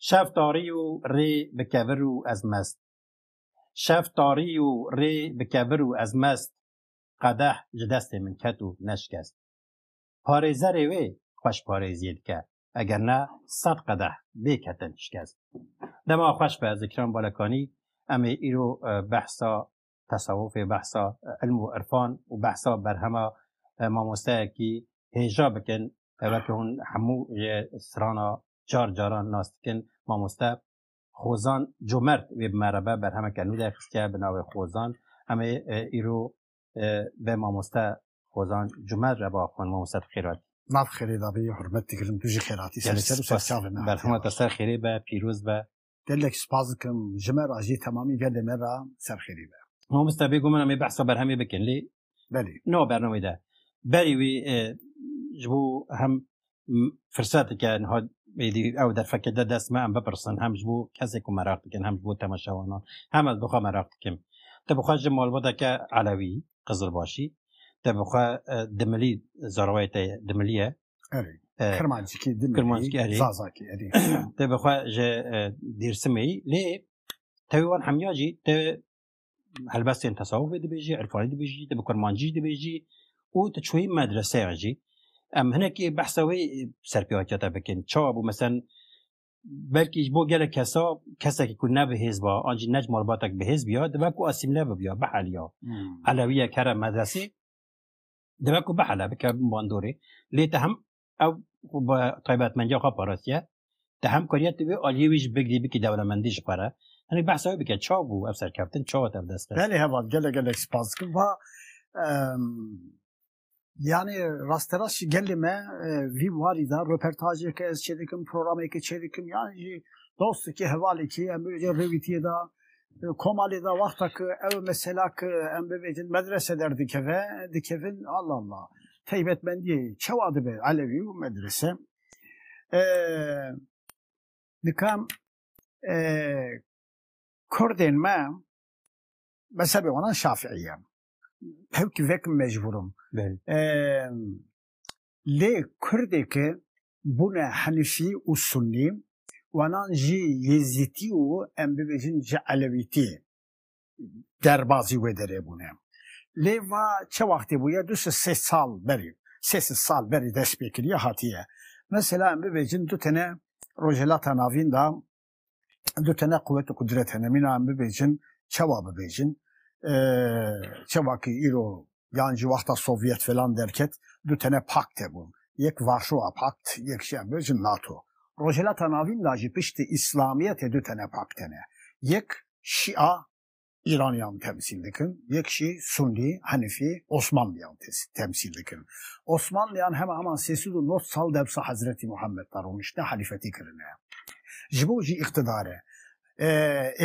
Şev tarî yo rê bi kevir û ez mest. Şev tarî yo rê bi kevir û ez mest, qedeh ji destê min ket û neşkest. Parêzerê wê xweş parêziyê dike, eger ne sed qedeh bê ketin şikest. Dema xweş be Zikran Balakanî em ê îro behsa tesewufê, behsa ilm û irfan û behsa berhema mamosteyekî hêja bikin weke hûn hemû yê strana car caran nas dikin mamoste Xozan Comert wê bi me re be berhemeke nû derxistiye bi navê Xozan em ê îro Ve mamoste Hozan Cumer re ba xwe mamoste bi xêr hatî. Maf xêrê da bî hurmet dikirin tu jî xêr hatî ser ser û ser çavê me. Berhema te ser xêrê be pîroz be. Gelek spas dikim ji me re jî temamî gelê me re ser xêrê be. Mamoste bêgom min em ê behsa berhemê bikin lê belê no bernameyê de berê wî ji bo hem فرسatike niha êdî ew derfeke de dest me em bipirsin hem ji bo kesê ku meraq dikin hem ji bo temaşewanan hem ez bixwe meraq dikim te bixwe ji malbateke elewî qizilbaşî te bixwe di milî zarwayê te di miliye kirmancikî di kirmancikî erê zazakî erê te bixwe ji dêrsimê lê tevî wan hemiya jî te helbestên tesawufê dibêjî irfanî dibêjî te bi kurmancî dibêjî û tu çûyî medreseya jî em hinekî behsa wê serpêvakiya te bikin çawa bû mesen belkî ji bo gelek kesa kesekî ku ne bi hêz ba an jî nec malbatek bi hêz biya dibe ku asîmle bibiya biheliya elewiyek here medresê dibe ku bihele bike bin bandorê lê te hem ew bi taybetmendiya xwe parastiye di hemkariya tu vê aliyê wî jî bigirî bikî dewlemendî ji xwe re hinek behsa wê bike çawa bû ev serkeftin çawa te ev dest xist. Belê heval gelek gelek spas dikim va Yani rasterast jî gelê me vî warî de röpertajêke ez çêdikim programêke çêdikim yan jî dostekî hevalekî em rêwîtiyê de komalê de wexta ku ew mesela ku em bibêjin medrese derdikeve, dikevin Allah Allah. Taybetmendiyê çawa dibe elewî û medrese? Dikan kurdên me mezhebê wan şafîî ye. Hewkî vek mecbûr im. Lê Kurdê ke bûne Henifî û Sunnî, wanan jî Yêzîtî û em bibêjin ji Elewîtî derbazî wê derê bûne. Lê va çi wextê bûye du sed sê sal berî, sê sed sal berî destpêkiriye hatiye. Mesela em bibêjin du tene Rojhilata Navîn de Du tane quwet û qudret hene. Mîna em bibêjin, çawa bibêjin? Çawa ki îro yan ji wexta Sovyet filan derket, du tane pakt hebûn. Yek Varşova Pakt, yek jî em bibêjin NATO. Rojhilata Navîn de jî piştî Îslamiyetê du tane pakt hene. Yek Şîa, Îraniyan temsîl dikin, yek jî Sunnî, Henifî, Osmanlîyan temsîl dikin. Osmanlîyan hema heman sê sed û nod sal dewsa Hezretî Muhammed de roniştine helîfetî kirine. Ji bo jî îqtidare.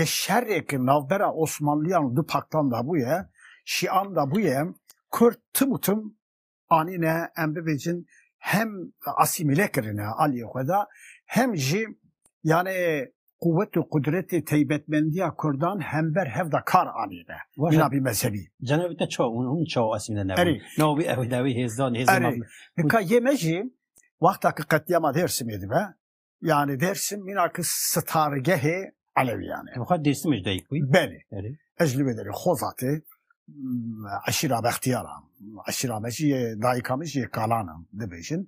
Ê şerê ke navbera Osmanlîyan û du paktan de bûye, Şîan de bûye, Kurd tim û tim anîne em bibêjin hem asîmîle kirine aliyê xwe da hem jî yani quwet û qudretê teybetmendiya Kurdan hember hev da kar anîne jinabî mezhebî. Cenabî te çaw hûn hûn çaw asîmîle nebûn. Na wî ew dawî hêzdan hêzdan. Nika yê me jî wexta ki qetliyama Dêrsimê dibe yani Dersim mîna ki sitarigehê Elewiyan e. Xwe Dersim ji dayik bûyî? Belê. Ez li wê derê Xozatê eşîra Bextiyara eşîra me jî dayika min jî kalan in dibêjin.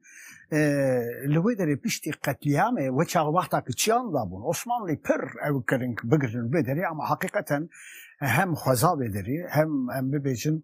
Li wê derê piştî qetlîamê we çax wexta ki çiyan dabûn Osmanlî pir ew kirin bigirin wê derê ama heqîqeten hem xweza wê derê hem em bibêjin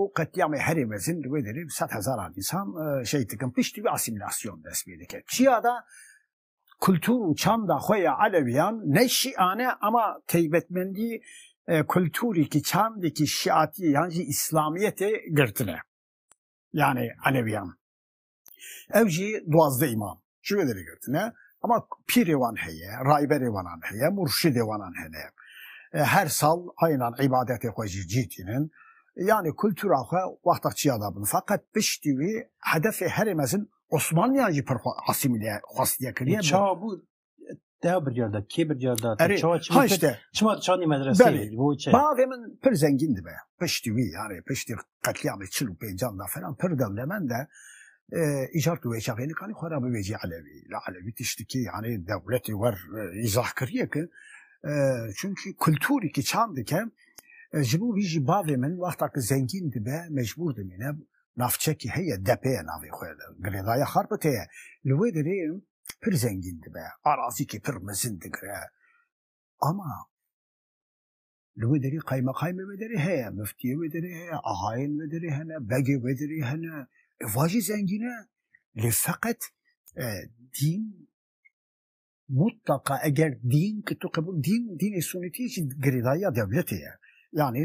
û qetlîamê herî mezin li wê derê bi sed hezaran însan şehîd dikin. Piştî wî asîmîlasyon dest pê dike. Çiya de kultur û çanda xwe ya Elewîyan ne Şîan e ama teybetmendî kulturêkî, çandêkî Şîatî yan jî Îslamîyetê girtine. Yanî Elewîyan. Ev jî duwazdeh îmam ji wê derê girtine. Ema pîrê wan heye, rayberê wanan heye, murşidê wanan hene. Her sal aynan îbadetê xwe jî cî tînin. Yanî kultura xwe wexta çiya dabin. Feqet piştî wî hedefê herê mezin Osmanliyan jî pir xwe asîmîle xwestiye kiriye. Çawa bû Te bircar da, kê bircar da? Erê, Çawa çima ha işte. çima çandî medreseyê? Belê. Bo çi? Bavê min pir zengîn dibe. Piştî wî yani piştî qetlîamê çil û pêncan da falan pir dewlemend e. E, îcar tu wê çavênikanî xwe ra bivêjî Elewî. La Elewî tiştikî yani dewletê wer e, îzah kiriye ki e, çünkî kulturî ki çand dike e, ji bo vî jî bavê min wexta ki zengîn dibe mecbûr dimîne navçekî heye depê ye navê xwe girêdaya xarpitê ye. Li wê derê pir zengîn dibe, arazîkê pir mezin digire. Ama li wê derê qaymeqaymê wê derê heye, miftiyê wê derê heye, axayên wê derê hene, begê wê derê hene. Ev jî zengîn e. Lê feqet e, dîn mutlaka eger dîn ki tu qebûl dîn dînê sunîtiyê jî girêdayîya dewletê ye. Yanî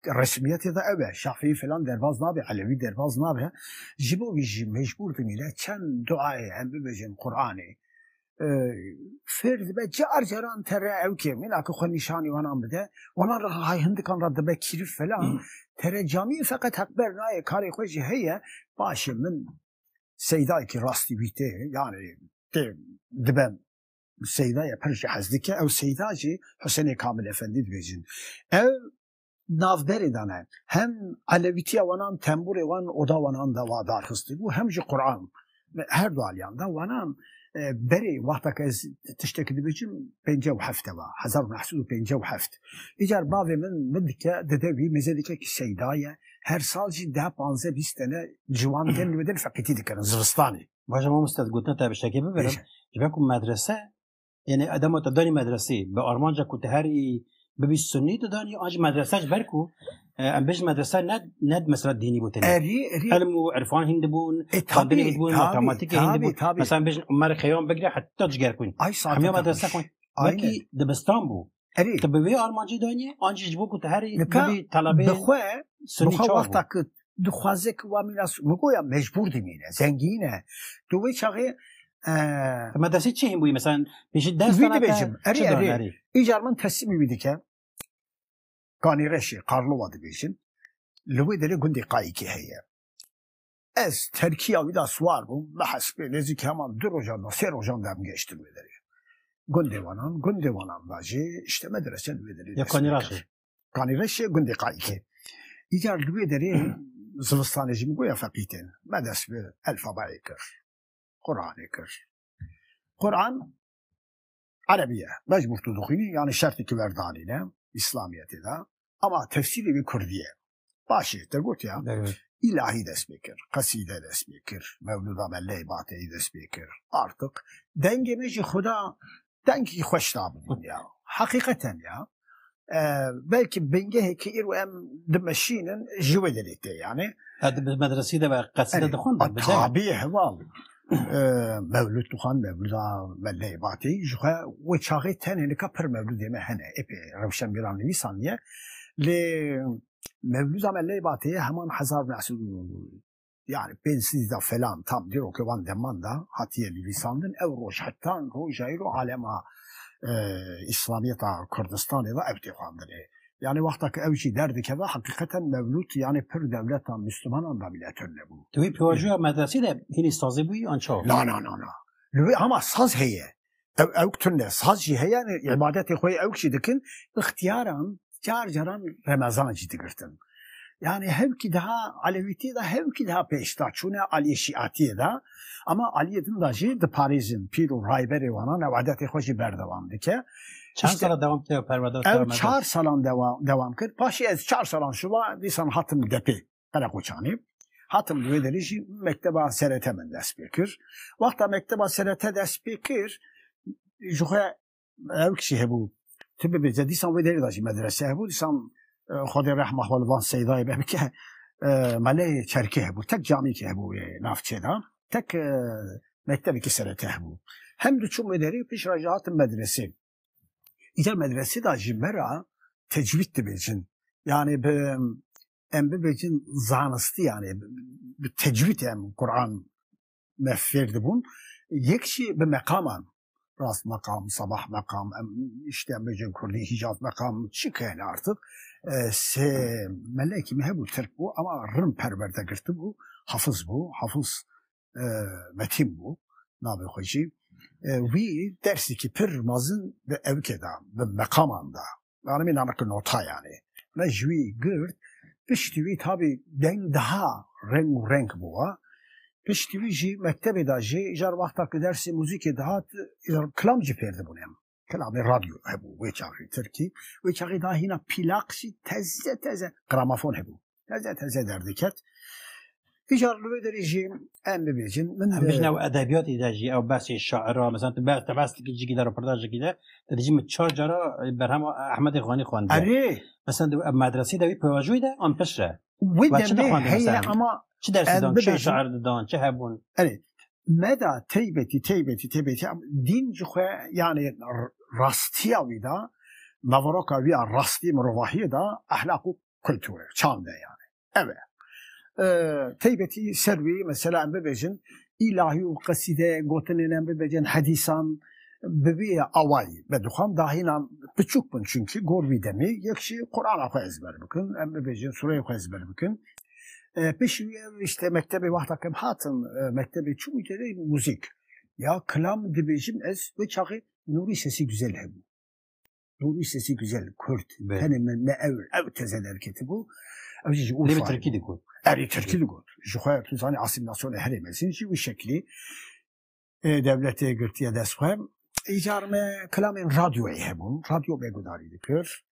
Resmiyetê de ew e, Şafîî filan derbaz nabe, Elewî derbaz nabe. Ji bo vî jî mecbûr dimîne çend duayê em bibêjin Quranê. Fêr dibe car caran tere ew kê mîna ku xwe nîşanî wanan bide, wanan re hay hindikan re dibe kîrif filan. Tere camî feqet heqber nayê karê xwe jî heye. Paşê min seydayekî rastî wî tê, yanî tê dibe Seyda ya pir jî hez dike ew Seyda jî Husênê Kamil Efendî dibêjin. Ev navberê de ne hem elewîtiya wanan temburê wan oda wanan de wa dar xistibû hem jî Quran her du aliyan de wanan berê wexteke ez tiştekî dibêjim pêncî û hefte va hezar û neh sed û pêncî û heft îcar bavê min min dike dide wî mêze dike kî Seyda ye her sal jî deh panze bîst tene ciwan tên li wê din feqîtî dikirin zivistanê Baje mam stet gotna te biştekê bibirim. Ji ber ku medrese yani adama te danî medresê bi armanca ku te herî bibî sunnî te danî an ji medrese ji ber ku e, em bêj medrese ne ne mesela dînî bû tenê. Elm û irfan hîn dibûn, e, xandinê hîn dibûn, matematikê hîn dibûn. Mesela em bêjin Umer Xeyam bigire heta cigerkûn. Hemya medrese xwend. Wekî dibistan bû. Erê. Tu bi vê armancê dayînî an jî ji bo ku tu herî bibî telebê. Bixwe sunî çav. Wexta ku dixwaze ku wa mîna min goya mecbûr dimîne, zengîn e. Tu wê çaxê Me desê çi hîn bûyî mesela pêşî ders wî dibêjim. Erê erê. Îcar min teslîmî wî dike. Kanîreşê Qarlova dibêjin. Li wê derê gundê Qayîkê heye. Ez terkiya wî de siwar bûm, bi hespê nêzîkî heman du rojan da, sê rojan da em gehiştin wê derê. Gundê Wanan, gundê Wanan da jî îşte medrese li wê derê Ya dest pê Kanîraşê. kir. Kanîreşê gundê Qayikê. Îcar li wê derê zivistanê jî min got ya feqî tên. Me dest bi elfabayê kir, Quranê kir. Quran Erebî ye. Mecbûr tu dixwînî, yanî şertê ki werdanîne, Îslamiyetê de. Ema tefsîrê wî Kurdî ye. Başê te gotiya îlahî dest pê kir, qesîde dest pê kir, mewlûda me lê bateyî dest pê kir. Artiq dengê me jî xuda dengî xweş da bi dinya. Heqîqeten ya belkî bingehê ki îro em dimeşînin ji wê dilê tê yanê. Di medresî de ve qesîde dixwin. Tabî heval. Mevlûd Tuhan, Mevlûda me Leybatî ji xwe wê çaxê tenê nika pir mevlûdê me hene êpê rewşenbîran nivîsandiye lê mevlûda me Leybatê heman hezar neh sed û yani pênc sîzda felan tam dîrokê wan deman da hatiye nivîsandin ew roj heta roja îro alema îslamiyeta Kurdistanê de ew tê xwendinê. Yanî wexta ku ew jî derdikeve heqîqeten mevlût yanî pir dewleta mûslimanan dabil'etir nebû. Di wî pêvajoya medersî de hînî sazî bûyî an çawa? Na na na na. Li wê hema saz heye. Ew ewk tune. Saz jî heye yanî îbadetê xwe yê ewk jî dikin. Îxtiyaran car caran remezan jî digirtin. Yanî hewkî daha elewîtiyê de hewkî daha pêşda çûne aliyê şîatiyê de. Ama aliyê din de jî diparêzin pîr û rayberê wan an ew edetê xwe jî berdewam dike. Çend sala dewam kir ew perwerdar Ew Karamedo? çar salan dewa, dewam kir. Paşê ez çar salan şiva dîsan hatim depê Qereqoçanê. Hatim li wê derê jî mekteba SRT min dest pê kir. Wexta mekteba SRT dest pê kir ji xwe ev kişî hebû tu bibêje dîsan wê derê de jî medrese hebû dîsan xwedê rehma xwe li van seydayê be bike meleyê çerkê hebû tek camîkê hebû wê navçê de tek mektebekî sereke hebû hem diçûm wê derê pêş re jî hatim medresê îcar medresê de jî me ra tecwîd dibêjin yanê bi em bibêjin zanistiyanê bi tecwîd em Kur'an me fêr dibûn yek jî bi meqaman rast meqam sabah meqam em işte bêjin kurdî hîcaz meqam çi kene artık sê melekî me hebû tirk bû ama rin perwerde girtibû hafiz bû hafiz metîn bû navê xwe jî wî dersêkî pir mazin bi evkê da bi meqaman da Nanimî name ki nota yanê. Me ji wî girt, piştî wî tabî deng daha reng û renk bûwa. Piştî wî jî mektebê de jî jar wexta ki dersê muzîkê dihat jar kilam jî fêr dibûn em. Kilamê radyo hebû wê çaxê tirkî, wê çaxê daha hîna pîlaq jî teze teze gramafon hebû. Heze teze derdiket. Îcar li wê derê jî em bibêjin min Em bijî ew edebiyatê de jî ew behsê şaira mesela tu ber tebestikî cikî de röportajekî de te dijî min çar cara berhema Ehmedê Xanî xwendî. Erê Mesela ew medresî de wî pewajoyî de an pişt re. Wê Ve çi demê dixwendin heye mesela? ama Çi dersî Em dan? Çi bibêjin. şair didan? Çi hebûn? meda teybetî teybetî teybetî em dîn ji xwe yanê r- rastiya wî da naveroka wî ya rastî mirovahiyê da ehlaq û kulture, çande yani. Eve. Ee, teybeti servi mesela em bibêjin ilahi û qesîde gotinên em bibêjin hedîsan bi vî awayî me dixwam dahînan piçûk bin çünkî gor vî demê yek jî Qur'ana xwe ezber bikin em bibêjin sureyê xwe ezber bikin pişî wî işte mektebê wexta kem hatin mektebê çûm têdê muzîk ya kilam dibêjim ez wê çaxê nûrî sesî güzel hebû Bu bir sesi güzel, Kürt. Evet. Hani me, me ev, ev teze derketi bu. Ev jî ji Urfa. Lê Tirkî digot. Erê Tirkî digot. Ji xwe tu zanî asîmîlasyonê herê mezin jî wî şeklî e, devletê girtiye dest xwe. Îcar me kelamên radyoyê hebûn. Radyo me gudarî dikir.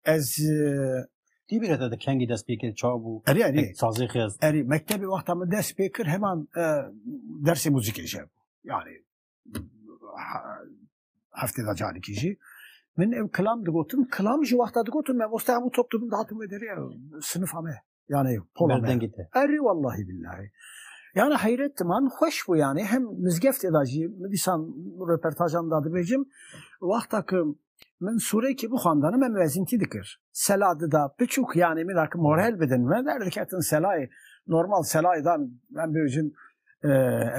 Ez e, Tî bir heta de kengî dest pê kir çav bû. erê erê Sazê xez. Erê mektebê wexta min dest pê kir heman e, dersê muzîkê jî hebû. Yani ha- heftê da carekî jî min ew kilam digotin kilam ji wexta digotin me bosta hemû top dibin dihatin wê derê sinifa me yani pola me erê wellahî billahî Yani heyret man xweş bû yani hem mizgeftê da jî min dîsan röpertajan da dibêjim wexta ki min sûrekî bixwandana me mezîntî dikir sela dida piçûk yani min ki morel bidin me derdiketin selayê normal selayê dan em bêjin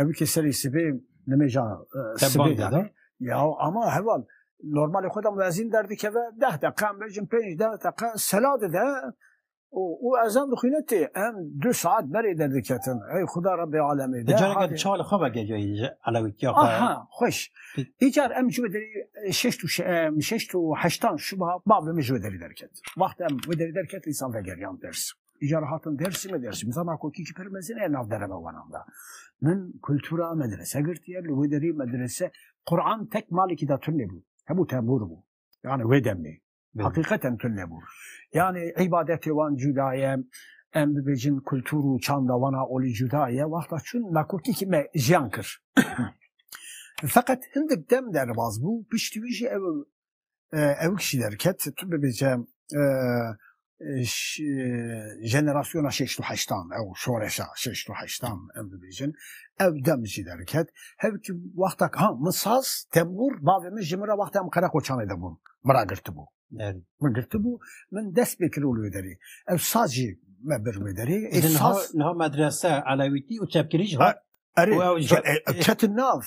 ev ki serê sibê nimêja sibê de ya ama heval normalê xwe de mezîn derdikeve deh deqa mecin pênc deh deqa sela dide û ezan dixwîne tê em du saet berê derdiketin ey xuda rebê alemê de careke çawa li xwe vegeriya ji elewîtiya xwe xweş îcar em ji derî şeş û şeş û heştan şuba bavê min ji derî derket wexta em derî derket îsan vegeriyan ders Îcar hatin Dersimê, Dersim zana kokî pir mezin e nav derema wanan da. Min kultura medrese girtiye, li wê derê medrese Quran tek malekî da tun nebû. Hemû tembûr bû. Yani wê demê. Hakikaten tun nebû. Yani îbadetê wan cuda ye, em bibêjin kultur û çanda wan a olî cuda ye. Wexta çûn nakokî ki me jiyan kir. Feqet hindik dem derbas bû, piştî wî jî ew ew kişî derket tu bibêje jenerasyona şeş û heştan ew şoreşa şeş û heştan em bibêjin ew dem jî derket hev ki wexta ha min saz tembûr bavê min ji min re wexta em qereqoçanê de bûn min ra girtibû min girtibû min dest pê kirol wê derê ew saz jî me bir wê derê niha medrese elewîtî û çepkirî jî ketin nav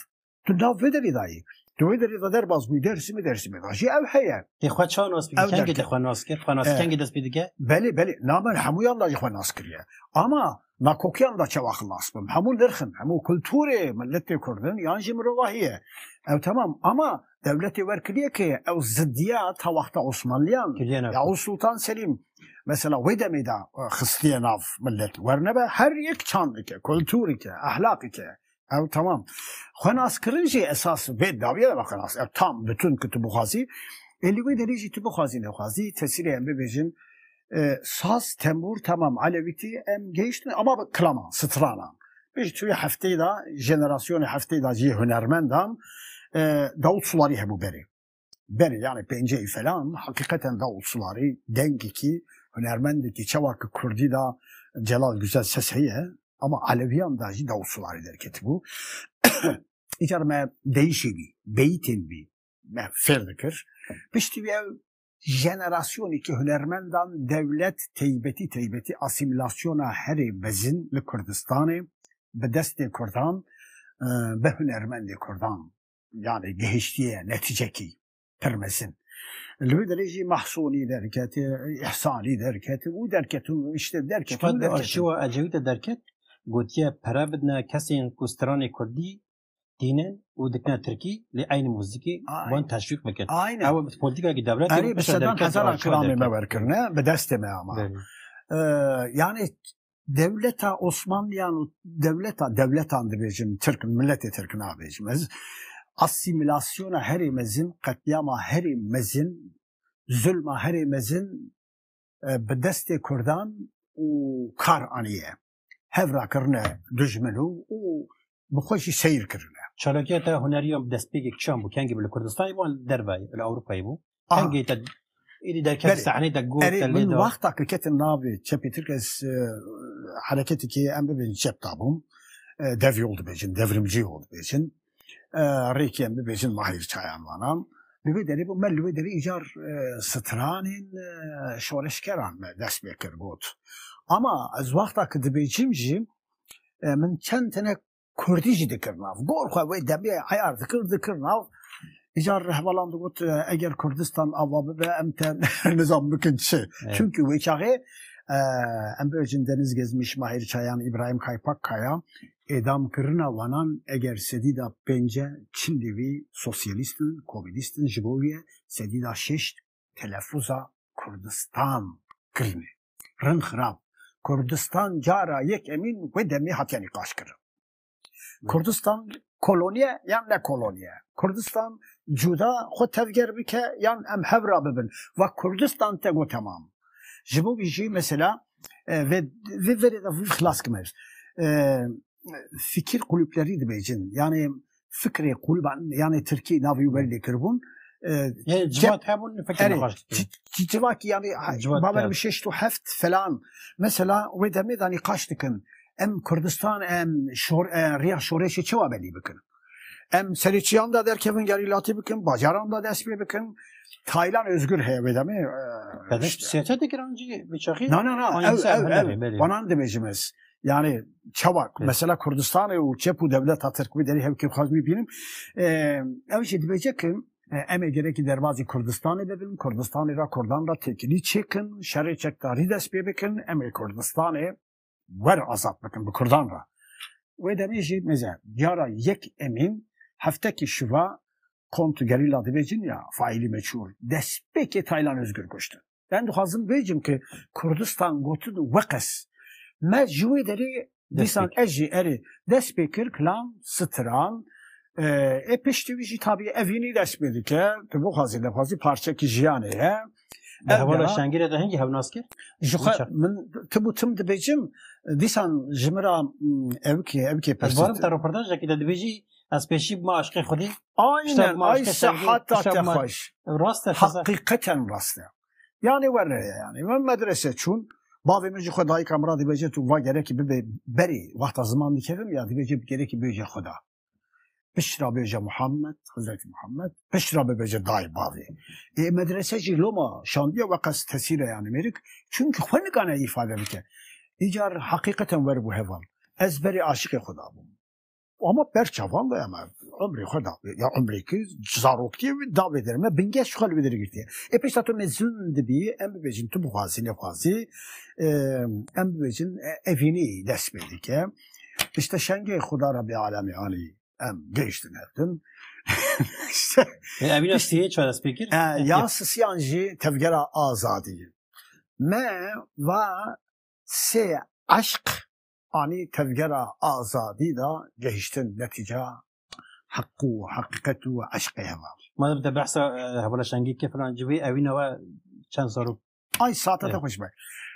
Tu nav vê derê dayî. Tu wê derê de derbas bûyî Dêrsimê Dêrsimê de jî ew heye. Tê xwe ça nas bike? Kengî te xwe nas kir? Xwe nas kengî dest pê dike? Belê belê na min hemûyan da jî xwe nas kiriye. Ama nakokiyan da çawa xilas bim. Hemû nirxin, hemû kulturê miletê Kurd in yan jî mirovahî ye. Ew temam ama dewletê wer kiriye kê ye. Ew zidiya ta wexta Osmanliyan ya û Sultan Selîm mesela wê demê de xistiye nav milet. Wernebe her yek çandike, kulturike, ehlaqike Ew tamam. Xwenaskirin jî esas vê dawî de xwenas. Ew tam bütün ku tu bixwazî. Ê li wê derî jî tu bixwazî nexwazî tesîrê em bibêjin e, saz, tembûr tamam elewîtî em geyiştin ama bi kilama, stranan. Pêş tu hefteyê de jenerasyonê hefteyê de jî hunermendan e, Davut Sulari hebû berê. berê yani pênceyî felan hakîqeten da usularî dengekî hunermendekî çawa ki kurdî da Celal Güzel ses heye ama Aleviyan da jî da usularî derketibû. Îcar me deyişê bî, beyîtên bî me fêr dikir. Piştî wî ew jenerasyonekî hunermendan dewlet teybetî teybetî asîmîlasyona herê mezin li Kurdistanê bi destê kurdan bi hunermendê kurdan Yani gihiştiye neticekî pir mezin. Li wî derê jî Mahsûnî derketê, Îhsanî derketê û derketû işte derketû derketû. Di arşîva Ecevît de derket gotiye pere bidine kesên ku stranê kurdî dîne û dikine tirkî lê eynî muzîkê wan teşwîq bikin. Ew politikekî devletê Erê bi sedan hezaran kilamê me werkirine bi destê me ama. Yani Dewleta Osmanliyan û dewleta dewletan dibêjin Tirk miletê Tirk nabêjim ez asîmîlasyona herê mezin qetlîama herê mezin zulma herê mezin e, bi destê Kurdan û kar aniye hevrakirine dijmin û û bi xwe jî seyr kirine. Çalakiya te hunerî ya destpêkê kişan bû, kengî bû li Kurdistanê bû an li derve yê, li Ewropayê bû. Kengî te êdî derket di sahneyê te got te lê da. Wexta ku ketim navê çepê Tirk ez hereketê kê em bibêjin çep dabûm. Dev yol dibêjin, devrimcî yol dibêjin. Rêkê em bibêjin Mahir Çayan vana. Li wê derê bû me li wê derê îcar stranên şoreşgeran me dest pê kir got. Ama ez wexta ku dibêjim jî min çend tine kurdî jî dikir nav. Gor xwe wê demê eyar dikir dikir nav. Îca rehbalan digot eger Kurdistan ava bibe em te nizam bikin çi. Çunki wê çaxê em bibêjin Deniz Gezmiş, Mahir Çayan, Îbrahîm Kaypak Kaya êdamkirina wanan eger sedîda pênc e çil lêvî sosyalîst in, komînîst in ji bo wî ye sedîda şeş Telefuza Kurdistan kirine. Rin xirab. Kurdistan cara yekemîn wê demê hatiye nîqaşkirin. Kurdistan koloniye yan ne koloniye? Kurdistan cuda xwe tevger bike yan em hev re bibin va Kurdistan te got temam. Ji bo vî jî mesela vê verê de xilas kime. fikir kulüpleri dibêjin. Yani fikrê kulüban yani Tirkî navî wer lê kiribûn. Civat hebûn fikir nexweş. Civat yani bawer bi şeş tu heft falan. Mesela wê demê da nîqaş dikin. Em Kurdistan em şor riya şoreşê çi wa belî bikin. Em serê çiyan da derkevin gerî latî bikin, bajaran da dest pê bikin. Taylan özgür heye wê demê. Bedeş siyasete giran cî biçaxî. Na na na ev ev ev banan dimêjim ez. Yani çawa mesela Kurdistanê û çep û devleta Tirk bi derî hevkê xwaz wî bînim. Ew jî dibêje ki em ê gerekî derbazî Kurdistanê de bin, Kurdistanê ra Kurdan ra têkilî çêkin, şerê çekdarî dest pê bikin, em ê Kurdistanê wer azad bikin bi Kurdan re. Wê demê jî neze diyara yek Emîn heftekî şiva kont gerîla dibêjin ya faîlî meçûl destpêkê Taylan Ozgur kuştin. Ben dixwazim bêjim ki Kurdistan gotin weqes me ji wê derê dîsan ez jî erê dest pê kir kilam stran ê piştî wî jî tabî evînî dest pê dike tu bixwazî nexwazî parçekî jiyanê ye. Di hevala şengirê de hingî hewnas kir? Ji xwe min tu bû tim dibêjim dîsan ji min ra evkê evkê pes. Barim te röportajekî de dibêjî ez pêşî bima aşkê xwedî. Aynen ay sehata te xweş. Rast e heqîqeten rast e. Yani were yani min medrese çûn bavê min ji xwe dayîka min ra dibêje tu va gerekî bibe berê wexta ziman dikevim ya dibêje gerekî bêje xwe da. Pişra bêje Muhammed, Hizreti Muhammed, pişra bêje dayê bavê. Ê medrese jî loma şandiya we qas tesîre yani mêrik. Çünkü xwe nikane ifade bike. Îcar hakîqeten wer bû heval. Ez berê aşiqê xwe da bûm. Ama berçavan da eme ömrê xwe da ya ömrê ki zarokiyê wî da vê derê me bingeş xwe li vê derê girtiye. Ê pêşta tu mezun dibî em bibêjin tu bixwazî nexwazî em bibêjin evînî dest pê dike. Îşte şengê Xuda Rebî Alemê Alî em gehiştin hev din. Evîna sihê çar ez pê kir? Ya sisiyan jî tevgera azadî. Me va sê eşq anî tevgera azadî da gehiştin netîca heq û heqîqet û eşqê heval. Ma te behsa hebala şengê kir filan civê evîna wa çend zarok Ay saate de xweş be.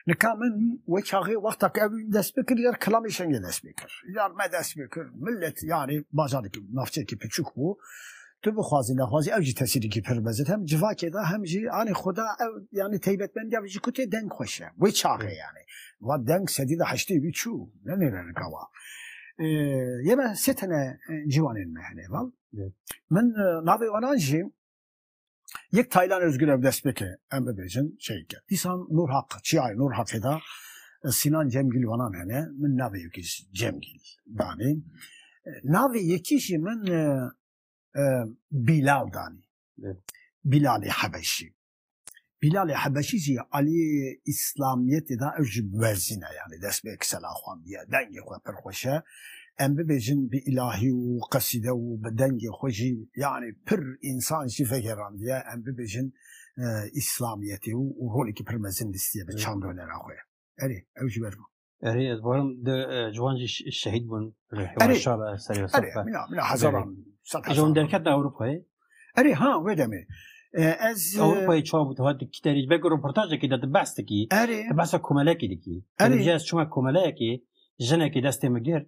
Nika min we çaxê wexta ke ev dest pê kir yer kilamê şengê dest pê kir. Yar me dest pê kir. Millet yani bajarekî navçeyekî piçûk bû. Tu bixwazî nexwazî ew jî tesîrîkî pir mezin hem civakê de hem jî anî xuda ew yani teybetmendiya vê jî ku tê deng xweş e. Wê çaxê yani. Wa deng sedî de heştê wî çû. Ne nêre nika wa. Yê me sê tene ciwanên me hene val. Min navê wanan jî Yek Taylan Özgür ev dest pêke em bibêjin şeyke. Dîsan Nur Hak, çiyayê Nur Hakê da Sinan Cemgil wanan hene, min navê yekî Cemgil danê. Navê yekî jî min e, e, Bilal danê. Bilalê Hebeşî. Bîlalê Hebeşî jî aliyê îslamiyetê da ew jî biwerzîne yanî dest bi kisela xwendiye dengê xwe pir xweş e em bibêjin bi îlahî û qesîde û bi dengê xwe jî yanî pir însan jî vegêrandiye em bibêjin îslamiyetê û rolekî pir mezin lîstiye bi çandonera xwe erê ew jî ber bû. Erê ez barim de ciwan jî şehîd bûn ji hewaşa ve serê ve saf mina mina hezaran sed hezaran. Jon derket na Ewropayê. Erê ha wê demê. Ez Ewropayê çawa bû hat kiterî belki röportajekî de behs dikî. Erê. Behsa komelekî dikî. Erê. Ez çima komeleyekî jinekî destê min girt.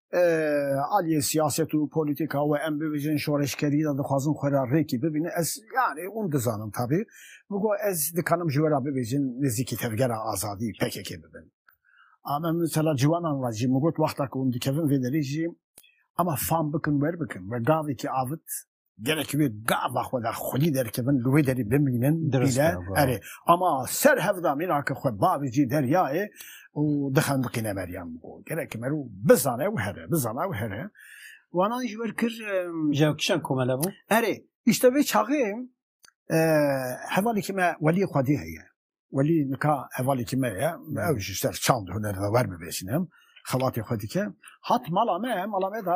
aliyê siyaset û polîtîka we em bibêjin şoreşkerî de dixwazin xwe re rêkî bibînin ez yanî hûn dizanin tabî min got ez dikanim ji we re bibêjin nêzîkî tevgera azadî pkk bibin ama mesela ciwanan re jî min got wexta ku hûn dikevin vê derê jî ema fam bikin wer bikin we gavekî avit Gelek wê gava xwe da xwedî derkevin li wê derî bimînin bîne erê ama ser hevda mînake xwe bavê cî deryayê û dixendiqîne Meryem û gelek merû bizane û here bizana û here wanan ji wer kir ji kişan komele bû erê îşte vê çaxê hevalekî me welî xwedî heye welî nika hevalekî me ye ew ji ser çand huner de wer bibêjînim xelatê xwe dike hat mala me mala me da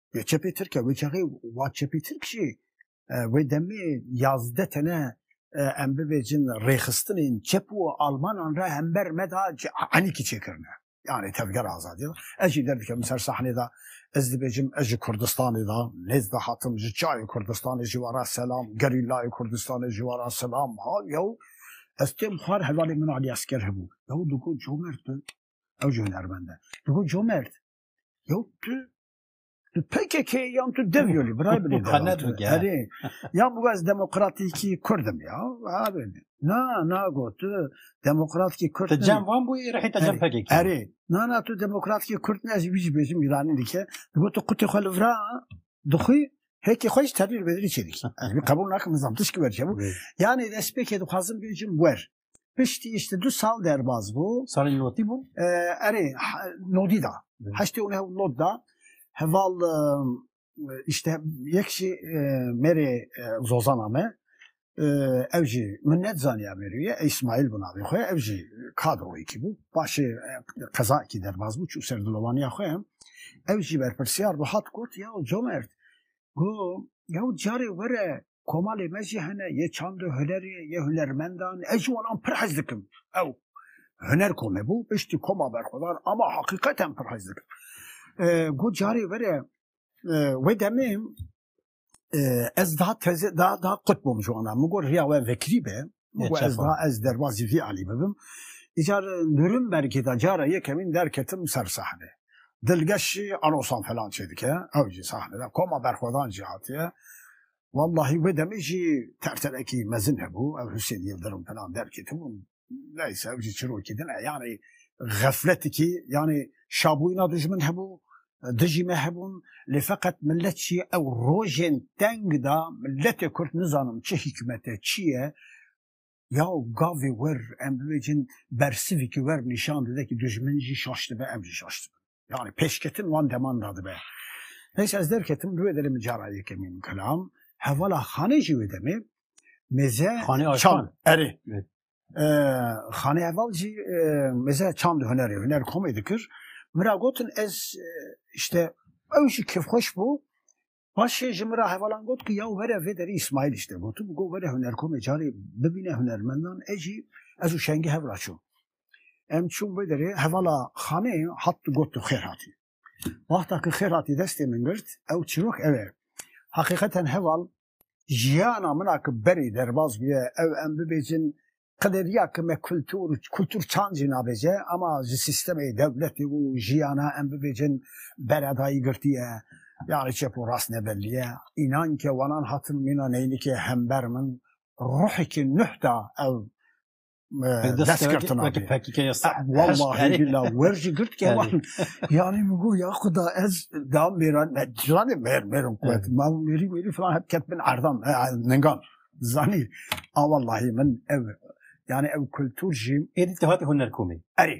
Ya çepê Tirk e wê çaxê wa çepê Tirk jî e, wê demê yazdeh tene e, em bibêjin rêxistinên çep û almanan re hember me da enîkî çêkirine. Yani tevger azadî da. Ez jî derdikemin ser sahnê da ez dibêjim ez ji Kurdistanê da nêz dihatim ji çayê Kurdistanê ji wara selam gerîlayê Kurdistanê ji wara selam ha yew ez têm xwar hevalê min Alî Esker hebû. Yew digo comert bi ew ji hunermend e. Digo comert Yo tu tu PKK yan tu dev yolî birayê binê Herê ya bu ez demokratîkî Kurdim ya abi na na got tu demokratîkî Kurd Te cem wan bû rehî te cem PKK Herê na na tu demokratîkî Kurd ne ez wî jî bêjim Îranî dike tu got tu qutê xwe li vira dixwî Hekî xwe jî terîr bedrî çêdikî ez wî qebûl nakim nizam tişkî werçebû yanê destpêkê dixwazim bêjim wer Piştî îşte du sal derbaz bû. Salên lotî bûn? Erê, nodî da. Heştê û neh not da. Heval îşte yek jî mêrê zozana me ew jî min net zaniya mêrûye ey Smaîl bû navê xwe ew jî kadroyekî bû. Paşê qezayekî derbaz bû çû ser dilovaniya xwe. Ew jî berpirsiyar bû hat got ya comerd Go yaw carê were komalê me jî hene yê çand û hunerê yê hunermendan ez ji wan pir hez dikim. Ew huner ku me bû piştî koma berxwedar ama heqîqeten pir hez dikim. Go carê were wê demê ez da teze da da qut bûm ji wan re min got riya we vekirî be Wê ku ez da ez derbasî vî alî bibim. Îcar Nûrnbergê de cara yekemîn derketim ser sahnê. Dilgeş jî erosan falan çêdike, ew jî sahnê de. Koma Berxwedan jî hatiye. Wellahî wê demê jî terterekî mezin hebû, ev Husên Yildirim falan derketibûn. Neyse ew jî çirokî din e. Yanî xefletikî, yanî şabûyîna dijmin hebû, dijî me hebûn lê feqet milet jî ew rojên teng da miletê kurd nizanim çi hîkmete çi ye yaw gavê wir em bibêjin bersivîkî wir nîşan dide kî dijmin jî şaş dibe em jî şaş dibin. Yani pêşketin wan deman da dibe. Neyse ez derketim li wê derê min cara yekemîn min kelam hevala xanê jî wê demê mêze Xanê Aşkan. çal erê Xanê heval jî meze çand hunerê huner komê dikir. Min ra gotin ez işte ew jî kêfxweş bû. Paşê ji min ra hevalan got ki ya were vê derî İsmail işte gotim got were huner komê carê bibîne hunermendan e jî ez û şengî hev ra çûn. Em çûn vê derê hevala xanê hat gotin xêr hatî. Wexta ki xêr hatî destê min girt, ew çîrok ew e. Heqîqeten heval jiyana min a ki berê derbas bûye, ew em bibêjin qederiya ki me kultur, kultur çand jî nabêje ama ji sîstemê dewletê û jiyana em bibêjin beredayî girtiye. Yani çep û rast nebelliye. Înan ke wanan hatin mîna neynikê hember min ruhekê nuh da ew destgirtina wer jî girt ke wan yanî min got ya xuda ez da mêran me zanê mêr mêrin ku ma mêrî wêrî filan hep ket bin erdan ningan zanî a wellahî min ev yanî ew kultur jî êdî te hatî hunerkomê erê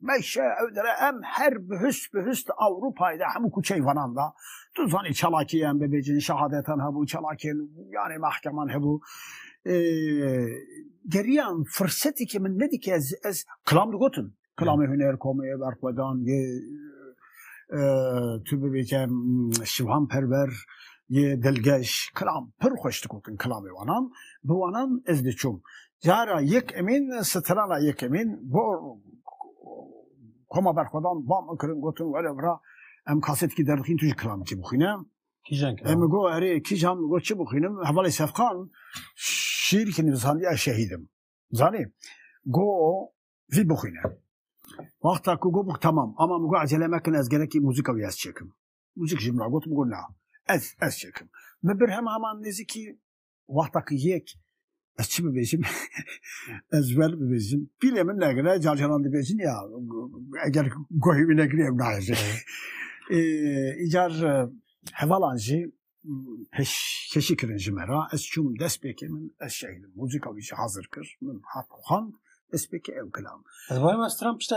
Meşe Ödere em her bi hüst bi hüst Avrupayê de hemû kuçeyê vanan da. Tu zanî çalakiyê em bibêjin şehadetan hebû, çalakiyên yanê mehkeman hebû. Geriyan fursetê ki min nedike ez ez kilam digotin. Kilamê huner komê berxwedan yê tu bibêje şivan perver yê dilgeş kilam pir xweş digotin kilamê wanan. Bi wanan ez diçûm. Cara yekemîn strana yekemîn bo Koma Berxwedan bam kirin gotin were vira em kasetkî derdixîn tu ji kilamikî bixwîne. Kîjan kilam? Em go erê kîjan go çi bixwînim hevalê Sefqan şîrkî nivîsandiya şehîdim. Zanî go vî bixwîne. Wexta ku go bûk temam ama min go ecele mekin ez gerekî muzika wî ez çêkim. Muzik ji min re got min got na ez ez çêkim. Min bir hema heman nêzîkî Wexta ki yek ez çi bibêjim ez wer bibêjim pîlê min negire carcaran dibêjin ya eger guhê wî negirê ew nahêje îcar hevalan jî peş keşî kirin ji me ra ez çûm dest pêkê min ez şehîdim muzîka wî jî hazir kir min hat xan dest pêkê ew kilam ez barê me stran pişta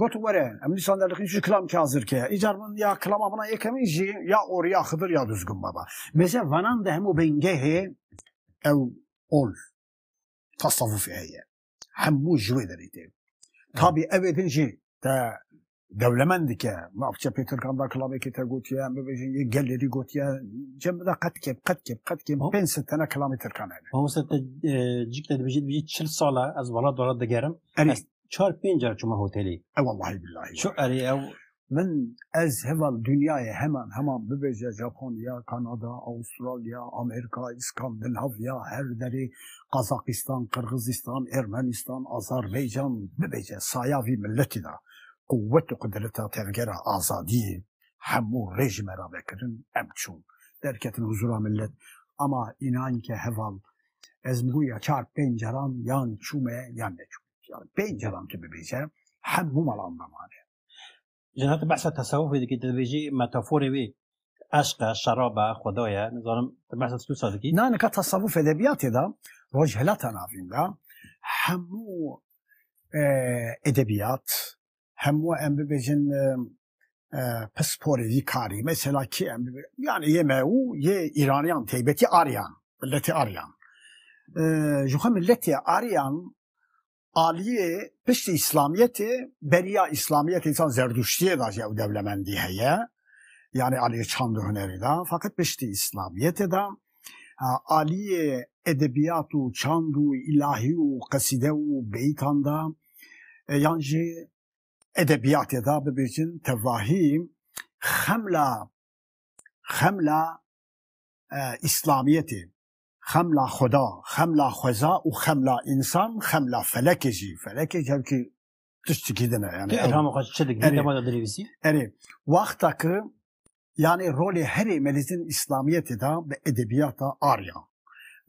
gotu were em nîsan derdiqîn jî kilam kî hazir ke îcar min ya kilama bina yekemîn jî ya orî ya xidir ya duzgun baba mêze vanan de hemû bingehê ew ol tasavvufê heye hemû ji wê derê tê tabî evê din jî te dewlemend dike mavçe pê tirkan da kilamekê te gotiye em bibêjin yê gelerî gotiye cem da qet kêm qet kêm qet kêm pênc sed tene kilamê tirkan hene te cik te dibêjî dibêjî çil sala ez welat welat digerim çar pênc car çûma hotelê. E wellahî billahî. Çi erê ew Min ez heval dunyayê heman heman bibêje Japonya, Kanada, Avustralya, Amerîka, Skandinavya, her derê, Qazaqîstan, Qirgizîstan, Ermenîstan, Azarbeycan bibêje saya vî miletî de quwet û qudreta tevgera azadiyê hemû rê ji me re vekirin em çûn derketin huzûra milet ama înan ke heval Ez mi ya çar pênc caran yan çûme yan neçûme. Yani pênc caran tu bibêje hemû malan damane. Ji hati behsa tesewufê dikî tu dibêjî metaforê wê eşqa, şeraba, xwedaya, nizanim tu behsa tu sa dikî. Na nika tesewuf edebiyatê da rojhilata navîn da hemû edebiyat hemû em bibêjin pisporê yî karî mesela kî em yani yê me û yê Îraniyan teybetî Aryan milletê Aryan ji xwe milletê Aryan aliyê piştî İslamiyetê beriya İslamiyetê insan zerduştiyê da jî ew dewlemendî heye yani aliyê çand û hunerê da fakat piştî İslamiyetê da aliyê edebiyat û çand û îlahî û qesîde û beyîtan da yan jî edebiyatê da bibêjin tevahî xemla xemla e, İslamiyetê xemla Xweda, xemla xweza û xemla însan, xemla felekê jî. Felekê kevkî tiştekî din e yani. Elhama xwe çi dikî, dema da dinivîsî? Erê, wexta ki yanî rolê herî melîzin îslamiyetê de bi edebiyata Arya,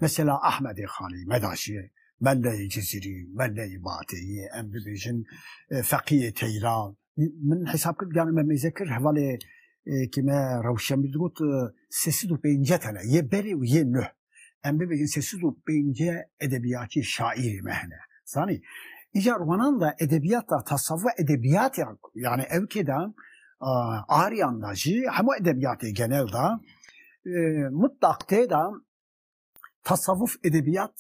mesela Ahmedê Xanî, Medaşiyê, Melleyê Cizîrî, Melleyê Bateyî, em bibêjin Feqiyê Teyran. Min hesab kir yanî me mêze kir hevalê ke me rewşenbîr digot sê sed û pêncî tane yê berê û yê nuh. Em bibêjin sê siz û pênce edebiyatçî şaîrê me hene. Zanî îca romanan da edebiyat da tasavvuf ve edebiyat ya yani ev kê da aryan da jî hemû edebiyatê genel da mutlaq tê da tasavvuf edebiyat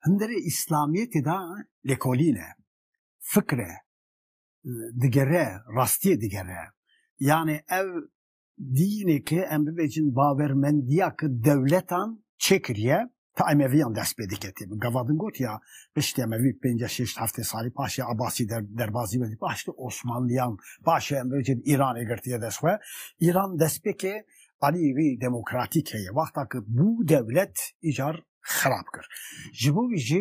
hindirê İslamiyetê da lêkolîn e, fikr e, digere, rastiyê digere. Yani ev Dînê ke em bibêjin bawermendiya ke dewletan çêkiriye ti Emeviyan dest pê diketê. Min gava din got ya piştî Emevî pênceh şêşt heftê salî paşê Abasî derbazî vedî paştî Osmanliyan paşê em bibêjin Îranê girtiye dest xwe. Îran destpêkê aliyê wî demokratîk heye. Wexta ke bû dewlet îcar xerab kir. Ji bo wî jî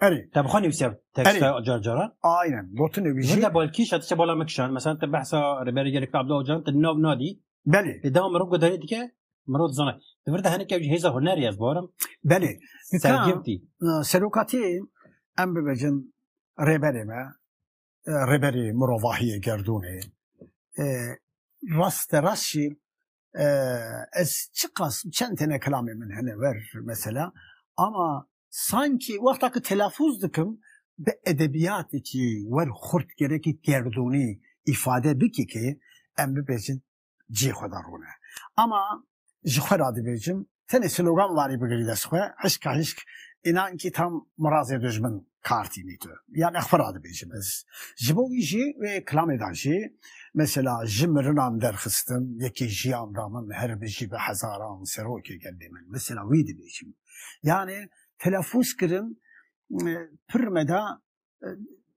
Erê. Te bixwe nivîsiya teksta car caran? Aynen. Gotin nivîsî. Ji de balkî şat se bala me kişan. Mesela te behsa Rêberê Gelek Abdullah Ocalan te nav nadî. Belê. Lê dema mirov gudarî dike mirov dizane. Di vir de heneke jî hêza hunerê ez barim. Belê. Sergirtî. Serokatiyê em bibêjin rêberê me rêberê mirovahiyê gerdûnê. Rast de rast jî ez çiqas çend tane kelamê min hene ver mesela ama sanki wexta ki telafuz dikim bi edebiyatê ki wer xurt gerekî gerdûnî îfade bikî ki em bibêjin cihê xwe de rûne. Ama ji xwe ra dibêjim Tenê slogan warî bigirî dest xwe, hişka hişk, înan kî tam mirazê dojmin kar tînî tu. Yanî xwe radibêjim ez. Ji bo wî jî wê kilamê de jî mesela ji mirinan derxistim, yekê jiyan da min her bijî bi hezaran serokê gelê min. Mesela wî dibêjim. Yanî telefûz kirin pir me de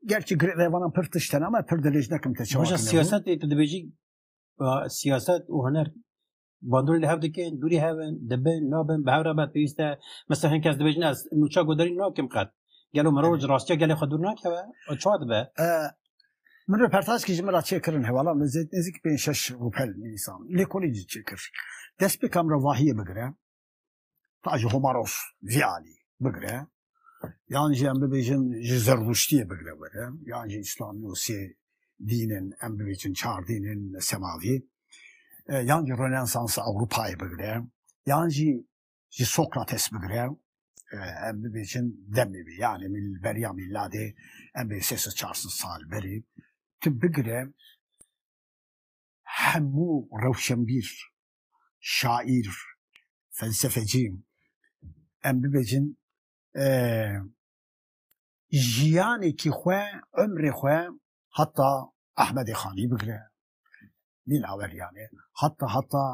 gerçî girê revanan pir tişt hene ama pir dirêj nekim te çawa. Baş siyaset tu dibêjî siyaset û huner bandorê li hev dikin, dûrî hev in, dibin, nabin, bi hev re be pêwîst e. Mesela hin kes dibêjin ez nûça goderî nakim qet. Gelo mirov ji rastiya gelê xwe dûr nakeve, o çawa dibe? Min röportajkî ji min re çêkirin hewalan li zêd nêzîk pênc şeş rûpel nivîsan. Lêkolîncî çêkir. Dest pê kamera vahiyê bigire. ta ji Homaros vî alî bigre yan jî em bibêjin ji zerrûştiyê bigre were yan jî îslamî û sê dînin em bibêjin çar dînin semavî e, yan jî Rönesansa Ewropayê bigre yan jî ji Sokrates bigre e, em bibêjin demê vê yanê beriya mîladê em bê sê çar sal berî tu bigre hemû rewşenbîr şaîr, felsefecî em bibêjin jiyanekî xwe umrê xwe heta Ehmedê Xanî bigire Lîlaweryanê heta heta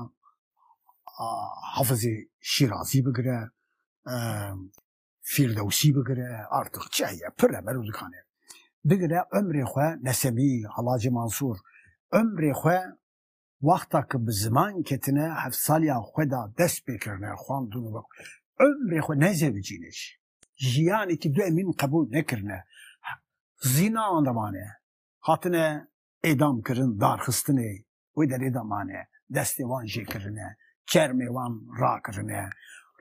Hafizê Şîrazî bigire Fîrdewsî bigire artix çi heye pir e bero dikanê bigire umrê xwe Nesemî, Helacê Mansûr umrê xwe Wexta ku bi ziman ketine hevsaliyan xwe da dest pê kirine xwendin û umrê xwe ne zewicînê jî jiyanekî du emîn qebûl nekirine zînanan de mane. Hatine êdam kirin darxistinê wê derê de mane. Destê wan jê kirine, çermê wan rakirine.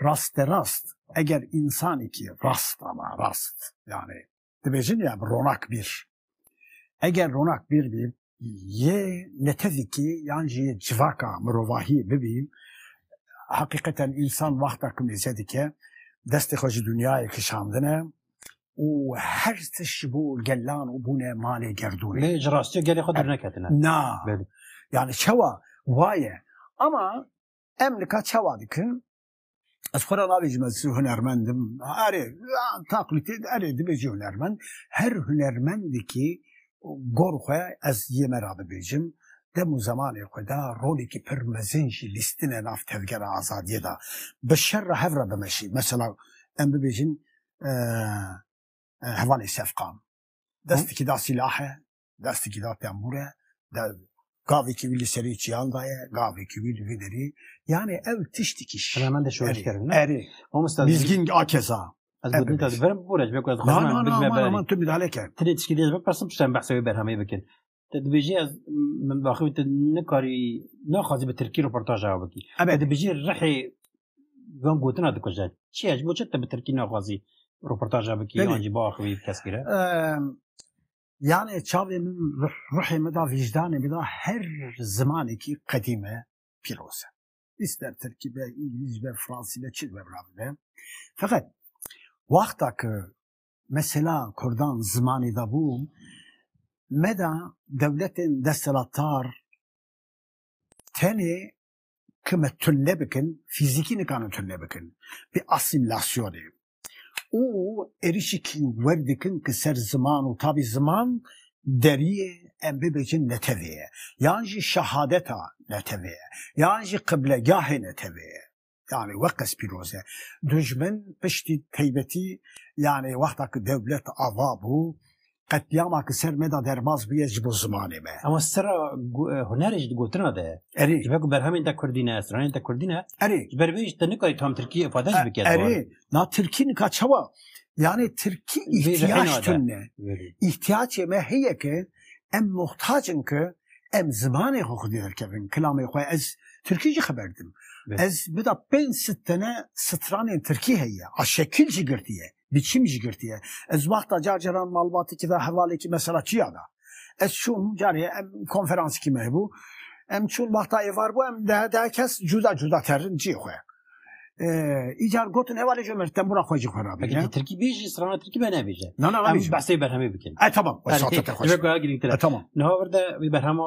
Rasterast eger însanekî rast ama rast yanê dibêjin ya bi ronak bîr. Eger ronak bîr bî yê netezîkî yan jî yê civaka mirovahî bibî heqîqeten însan wexta ku mêze dike destê xwe ji dunyayê kişandine û her tiş ji bo gelan û bûne malê gerdûnê. Lê ji rastiyê gelê xwe dûr neketine. Na yani çewa waye ama em nika çewa dikin Ez xwe ra nabêjim ez hunermendim. Erê taqlîtê erê dibêjî hunermend. Her hunermendekî gor xwe ez yê me ra dibêjim. Dem û zemanê xwe de rolekî pir mezin jî lîstine nav tevgera azadiyê de. Bi şer re hev re bimeşî. Mesela em bibêjin hevalê Sefqan. Destekî da sîlahe Destekî da tembû re, gavekî wî li serê çiyan daye, gavekî wî li vê derê. Yanê ew tiştekî şî. Hemen de şoreş kirin. Erê. Mamosta Mîzgîn a keza. Ez gotin te verim bûre ji ber ku ez xwazim bigme berê. Aman tu midale ke. Ti lê tişkî dê ji ber persim piştem behsa wê berhemê bikin. Te dibêjî ez min daxî wî tu nikarî naxwazî bi tirkî rûportaj ew bikî. Te dibêjî rihê van gotina dikuje. Çi ye ji bo çi te bi tirkî naxwazî rûportaj ew bikî yan jî biaxivî bi keskî re? Yani çavê min ruhê min da vîjdanê min da her zimanekî qedîm e pîroz e. İster Tirkî be, İngiliz be, Fransî be, çi be bira be. Feqet wexta ki mesela Kurdan zimanê da bû me da dewletên destelatar tenê ke me tunne bikin, fîzîkî nikarin tunne bikin. Bi asîmlasyonê. Û êrîşîkî wer dikin ke ser ziman û tabî ziman deriyê em bibêjin netewê ye. Yan jî şehadeta netewê ye. Yan jî qiblegahê netewê ye. Yanî weqes pîroz e. Dujmin piştî teybetî yanî wexta ke dewlet ava bû Qetlîama ki ser me de derbas bûye ji bo zimanê me. Ema sera hunerê jî di gotina de ye. Erê. Ji ber ku berhemên te kurdî ne, stranên te kurdî ne. Erê. Ji ber vê jî te nikarî tam tirkî îfade jî bike di war. Erê. Na tirkî nika çawa? Yanê tirkî îhtîyac tune. Îhtîyacê me heye ki em muhtac in ki em zimanê xwe xwedî derkevin, kilamê xwe. Ez tirkî jî xeber didim. Ez bida pênc sitene stranên tirkî heye. A şekil jî girtî ye. Bi çi mij girtiye? Ez wexta car caran malbatekî de hevalekî mesela çiya da. Ez çûm carê em konferansikî me hebû. Em çûn wexta êvar bû em dehe dehe kes cuda cuda terin ciyê xwe. Îcar gotin hevalê ji mir tembûra xwe jî xwe rabîne. Tirkî bêjî strana Tirkî me nebêje. Na na em behsê berhemê bikin. E tamam. E tamam. Niha vir de wî berhema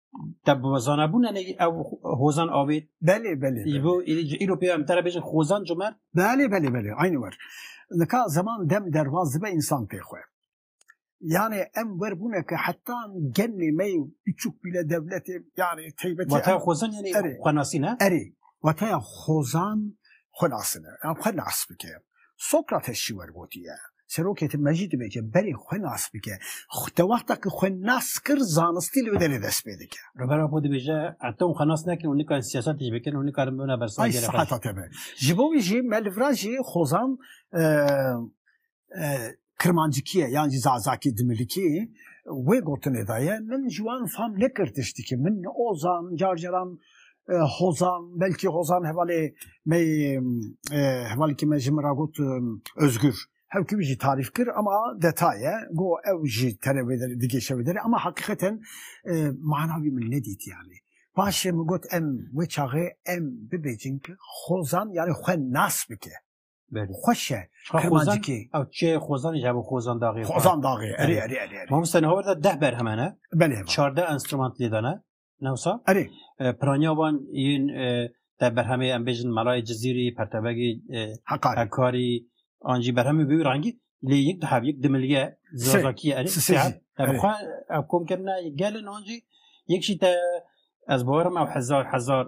te bi zanabûn ne ev hozan avê belê belê îbo îro pê em tere bêjin hozan cimer belê belê belê aynî wer nika zeman dem dervaz dibe însan pê xwe yani em wer bûne ke heta gelê me biçûk bîle devletê yani teybetî wata hozan yani xwenasîne erê wataya hozan xwenasine yan xwe nas bike Sokrates jî wergotiye, Serokê te mejî dibêje berê xwe nas bike. Di wexta ku xwe nas kir, zanistî li wê derê dest pê dike. Rêbera xwe dibêje, heta hûn xwe nas nekin, hûn nikarin siyaset jî bikin, hûn nikarin bibin bersivagera xwe jî. Ay sexeta te be. Ji bo wî jî me li vir a jî xozan Kirmancikiyê yan jî Zazakî Dimilikî wê gotinê de ye, Min ji wan fam nekir tiştikî, min Ozan, car caran Hozan, belkî Hozan hevalê me yê, hevalekî me ji min re got Ozgur. Hevkî wî jî tarîf kir ema detaye ye, go ew jî tenê wê derê, digêşe wê derê ema heqîqeten mana wî min nedîtiyanê. Paşê min got em wê çaxê em bibêjin ki Hozan yanî xwe nas bike. Belê. Xweş e. Xozan, Kirmancikê. ew çê Xozanê ji bo Xozan daxê. Xozan daxê. Erê, Erê. erê, erê, erê. Mamoste ne hawerde deh berheme ne. Belê. va. Çarde enstrüment lê de ne. Newsa. Erê. E, Piranya wan yên e, te berhemê em bêjin Melayê Cizîrî, Pertebegê e, Heqarê. Hekarî, an jî berhemê wî rengî lê yek dihev, yek dimilge, zazakiye erê. Sisê Sê jî, ev. Ev erê. xwe ev kom kirine gelin an jî yek jî te ez bawerim ew hezar hezar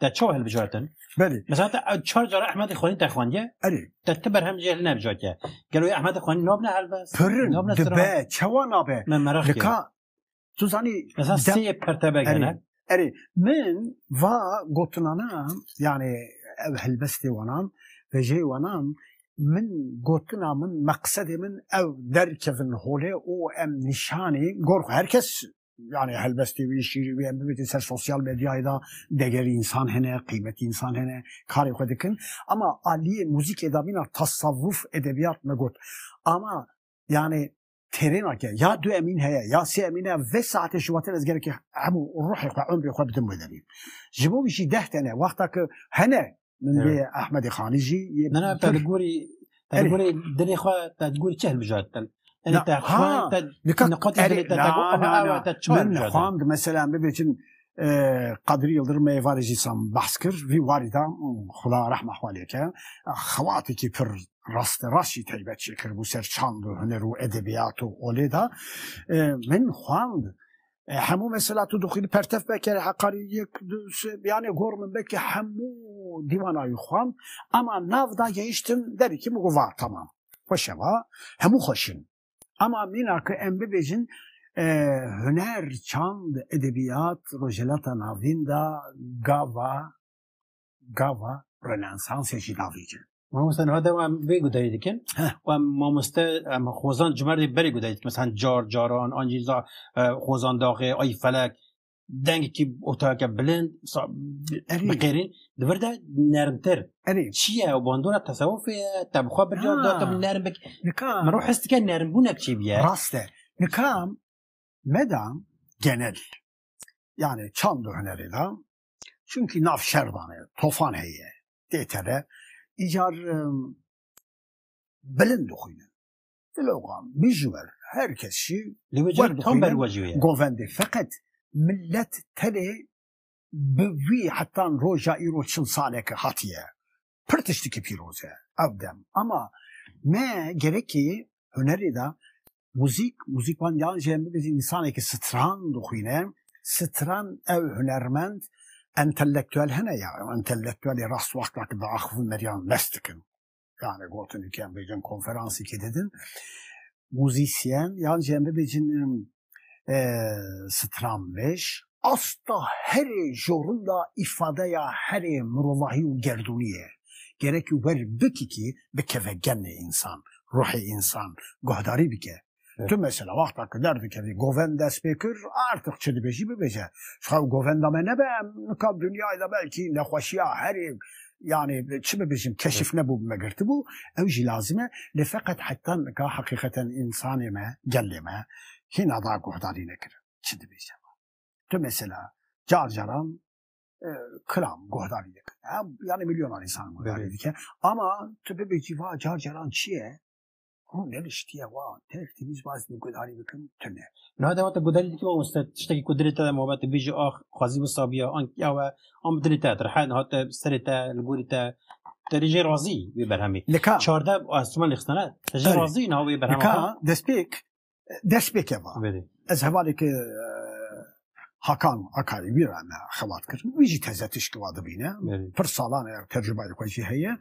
te çawa hilbijartin? Belê. Mesela te çar cara Ehmedê xwenî te xwendiye? Erê. Te ti berhem jê hil nebijatiye. Gelo yê Ehmedê xwenî nabne helbes? Pirin, dibe, çawa nabe? Me meraq kir. Lika, tu zanî... Mesela sê yê pertebek hene? Erê, min va gotinana, yanî ev helbestê wanan, vejeyê wanan, min gotina min, meqsedê min ew derkevin holê û em nîşanî gor xwe, her kes Yani helbestê wî şîrî wî em bibêtin ser sosyal medyayê da degerî însan hene, qîmetî însan hene, karê xwe dikin. Ama aliyê muzîkê da mîna tasavvuf edebiyat me got. Ama yani terêna ke ya du emîn heye ya sê emîn heye vê saetê ji watin ez gerekî hemû ruhê xwe, umrê xwe bidim wê derî. Ji bo wî jî deh tene wexta ke hene Min dê Ahmedê Xanî jî Na na te li gorî te li gorî dilê xwe te li gorî çi hilbijart te Xwand mesela bibêtin Qadrî Yildirim me varê jî sam behs kir vî warî da xuda rehma xwe lêke xewatekî pir rast rast jî teybet çêkir bû ser çand û huner û edebiyat û olê da min xwand hemû mesela tu dixwînî pertev pekere heqarî yek du sê yanê gor min vekî hemû dîwana wî xwand ema nav da gehiştim derî kî min got va temam xweş e va hemû xweş in ema mîna ku em bibêjin huner çand edebîyat Rojhilata Navîn da gava gava Rönesansê jî navê dikin. Mamoste niha de em vê guderê dikin û em mamoste em xozan ji merdê berê guderê dikin mesela car caran an jî za e, xozan daxê ay felek dengekî otayeke bilind biqêrîn di vir de nermtir çi ye û bandora tesewufê ye te bi xwe bircar da te nerm bik min rû his dike nermbûnek çi biye rast e nikam medam genel yani çand û hunerê da Çunkî nav şer dane, tofan heye, tê tele, îcar bilind dixwîne. Dilogan, bijwer, her kes şî li wê car dixwîne. Govendê feqet millet telê bi wî hetan roja îro çil saleke hatiye. Pir tiştekî pîroz e ev dem. Ama me gerekî hunerê de muzîk, muzîkman yan jî em bibêjin însanekî stran dixwîne. Stran ew hunermend entelektuel hene ya ew entelektuelê rast wexta ki diaxivin meriyan mest dikin. Yani gotin ki em bêjin konferansekî didin. Muzîsyen yan jî em bibêjin stranbêj. Asta herê jorunda îfadeya herê mirovahî û gerdûnî ye. Gerekî wer bikikî bikeve genê însan, ruhê însan guhdarî bike. Tu mesela wexta ku derdikevî govend dest pê kir artiq çi dibêjî bibêje. Ji xew govenda me nebe em nika dinyayê de belkî nexweşiya herê yani çi bibêjim keşif nebû me girtibû ew jî lazim e lê feqet heta nika heqîqeten însanê me gelê me hîna da guhdarî nekir çi dibêje me tu mesela car caran kiram guhdarî dikir yani milyonan însan guhdarî dike ama tu bibêjî va car caran çi ye Hûn ne li şitiye wa têr têmîz baz bi gudarî bikin tune. Na dewa te gudarî dikî wa weste tiştekî ku dilê te de mabet te bêjî ax xwazî wisa biya an ya we an bi dilê te dirhe hate serê te li gorî te te rê jê razî wê berhemê. Li ka çardeh Siman lê xistane te jê razî niha wê berhema xwe. Li ka destpêk destpêke va ez hevalêke Hakan Akarî wî re me xebat kir. Wî jî teze tişkî wa dibîne. Pir salan e tercûmayê xwe jî heye.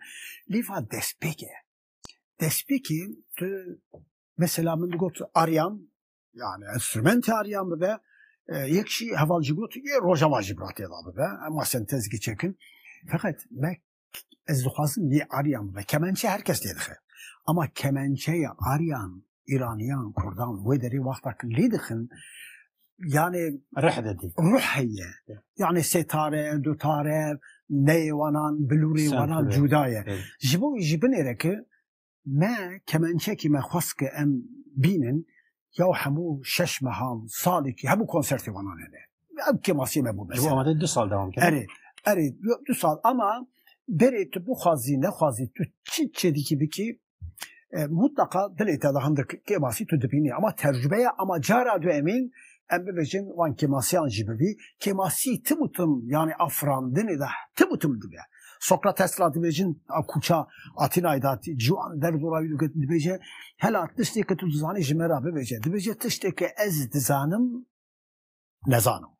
Lê va destpêke despêkî tu mesela min digot aryam yani enstrümente aryam bibe yek jî heval jî got yê rojava jî bi têda bibe ema sentez giçekin feqet me ez dixwazim yê aryam bibe kemençe her kes lê dixe ama kemençeya aryan îraniyan kurdan wê derê wexta lê dixin yani rih dedi. Ruh heye. Yani setare, dutare, neyê wanan, bilûrê wanan cuda ye. Ji bo ji binê re ki me kemençekî me xwest ki em bînin ya hemû şeş mehan salekî hemû konsertê wanan hene. Ev kemasiyê me bû mesela. Ji bo amade du sal dewam kir. Erê, erê du sal ama berê tu bixwazî nexwazî tu çi çêdikî bikî mutlaka dilê te da hindik kêmasî tu dibînî ama tercümeya ama cara duemî em bibêjin wan kêmasiyan jî bibî kêmasî tim û tim yanî afirandinê de tim û tim dibe Sokrat Tesla dibêjin a kûça Atînayê da ciwan derz û rawî digot dibêje hela tiştêke tu dizanî ji me re bibêje dibêje tiştêke ez dizanim nezanim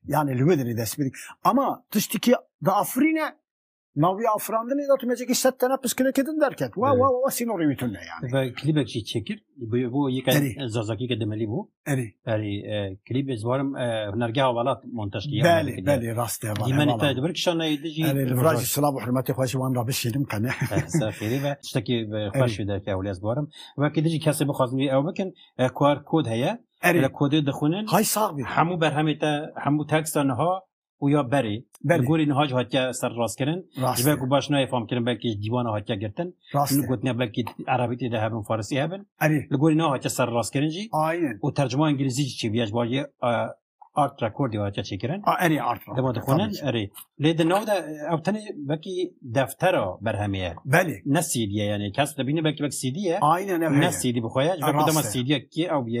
yanî li wê dilê dest bidî ama tiştekî diafirîne Navî afirandinê de tu mecekî set tene piskilekê din derket. Wa wa wa sînorê wî tune yani. Ve klîbek jî çêkir. Bo yeke zazakî ke demelî bû. Erê. Erê klîb ez warim hunergeha welat montaj kiriye. Belê belê rast e. Dîmenê te dibir kişanayê di jî. Erê li vir jî silav û hurmetê xwe jî wan re bişînim qene. Ser xêrê ve. Tiştekî xweş wî derke ewlê ez warim. Wekî di jî kesê bixwazin wî ew bikin QR kod heye. Erê. Kodê dixwînin. Hay sax bî. Hemû berhemê te hemû teksta niha û ya berê ber gorî niha jî hatiye ser rastkirin ji ber ku baş nayê famkirin belkî ji dîwana hatiye girtin li gotiya belkî erebî tê de hebin farisî hebin li gorî na hatiye ser rastkirin jî û tercuma îngilîzî jî çêbiye ji bajê art rekordî hatiye çêkirin erê art dema dixwanin erê lê di nav de ew tenê belkî deftera berhemê ye belê ne sîdî ye yanê kes dibîne belkî belkî sîdî ye ne sîdî bixwe ye ji ber ku dema sîdî ye kê ew bîye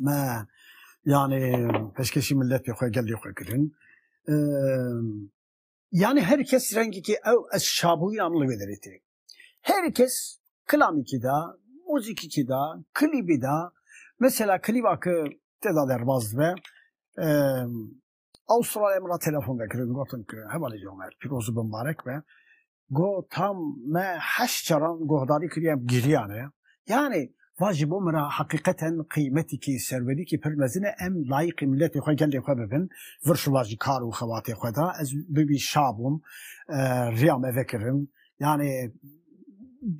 me yani peşkeşî milletê xwe gelê xwe kirin. Yani her kes rengekî ew ez şabûyîna min li wê derê tê. Her kes kilamîkî da, muzîkîkî da, kilîbî da, mesela kilîba ki te da derbaz dibe Avustralya min re telefon vekirin gotin ku hevalê ji Omer pîroz û bimbarek be. Got tam me heşt caran guhdarî kiriye em giriyane. Yanî va ji bo min re heqîqeten qîmetekî serwerîkî pir mezin e em layiqî miletê xwe gelê xwe bibin. Vir şiva ji kar û xebatê xwe de ez bi wî şa bûm. Riya me vekirin yanî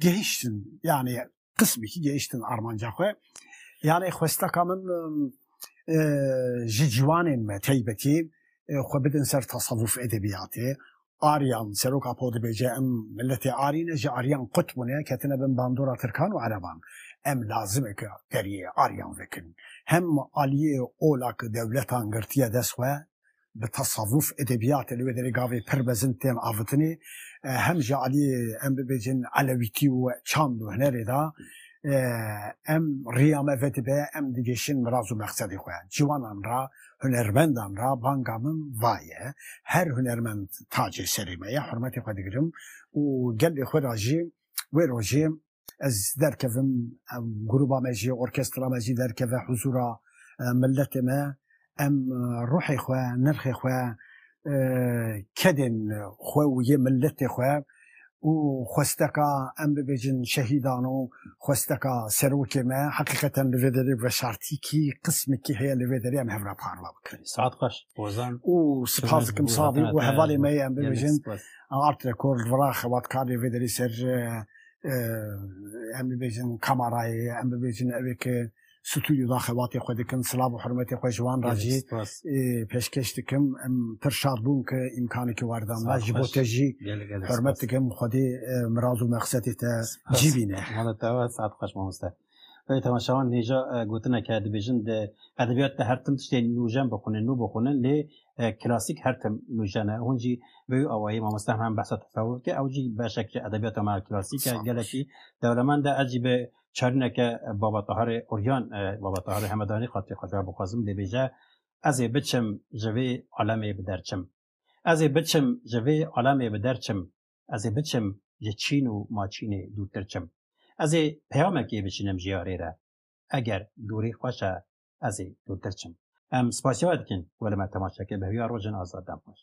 gihiştin yanî qismekî gehiştin armanca xwe. Yanê xwesteka min ji ciwanên me teybetî xwe bidin ser tasewuf edebiyatê. Aryan seroka po dibêje em miletê Arî ne ji Aryan qut bûne ketine bin bandora Tirkan û Ereban. Em lazim e ke deriyê Aryan vekin. Hem aliyê ola ke dewletan girtiye dest xwe bi tesavuf, edebiyatê li wê derê gavê pir mezin tên avitinê. Hem ji aliyê em bibêjin elewîtî û çand û hunerê de em riya me vedibe em digêşin miraz û mexsedê xwe. Ciwanan re, hunermendan re banga min va ye. Her hunermend tacê serê me ye, hurmetê xwe digirim û gelê xwe re jî wê rojê ez derkevim gruba me jî orkestra me jî derkeve huzûra milletê me em ruhê xwe nirxê xwe kedên xwe û yê milletê xwe û xwesteka em bibêjin şehîdan û xwesteka serokê me heqîqeten li vê derê veşartîkî qismekî heye li vê derê em hev re parve bikin. Saet xweş Ozan û spas dikim savî û hevalê me ye em bibêjin Art Record Vira xebatkarê vê derê ser em bibêjin kamarayê, em bibêjin evê ke stûyû da xebatê xwe dikin, silav û hurmetê xwe ji wan re jî pêşkêş dikim. Em pir şad bûm ke îmkanekê werda me. Ji bo te jî hurmet dikim. Xwedê miraz û mexsetê te cî bîne. Mala te wê, saet xweş mamoste. Wê temaşewan nêja gotineke dibêjin di edebiyat de her tim tiştê nûjen bixwînin, nû bixwînin lê klasîk her tim nûjen e. Hûn jî bi wî awayî mamoste hemen behsa tesewur dike. Ew jî beşek ji edebiyata me ya klasîk e, gelekî dewlemend e. Ez jî bi çarîneke Baba Taharê Uryan, Baba Taharê Hemedanî xatirê xwe jewab bixwazim. Dêbêje, Ez ê biçim ji vê alemê bi der çim. Ez ê biçim ji vê alemê bi der çim. Ez ê biçim ji çîn û maçînê dûrtir çim. Ez ê peyamekê biçinim ji yarê re. Eger dûrî xweş e, ez ê dûrtir çim. Em spasiya we dikin ku li me temaşe kir. Bi hêviya rojên azad dem xweş.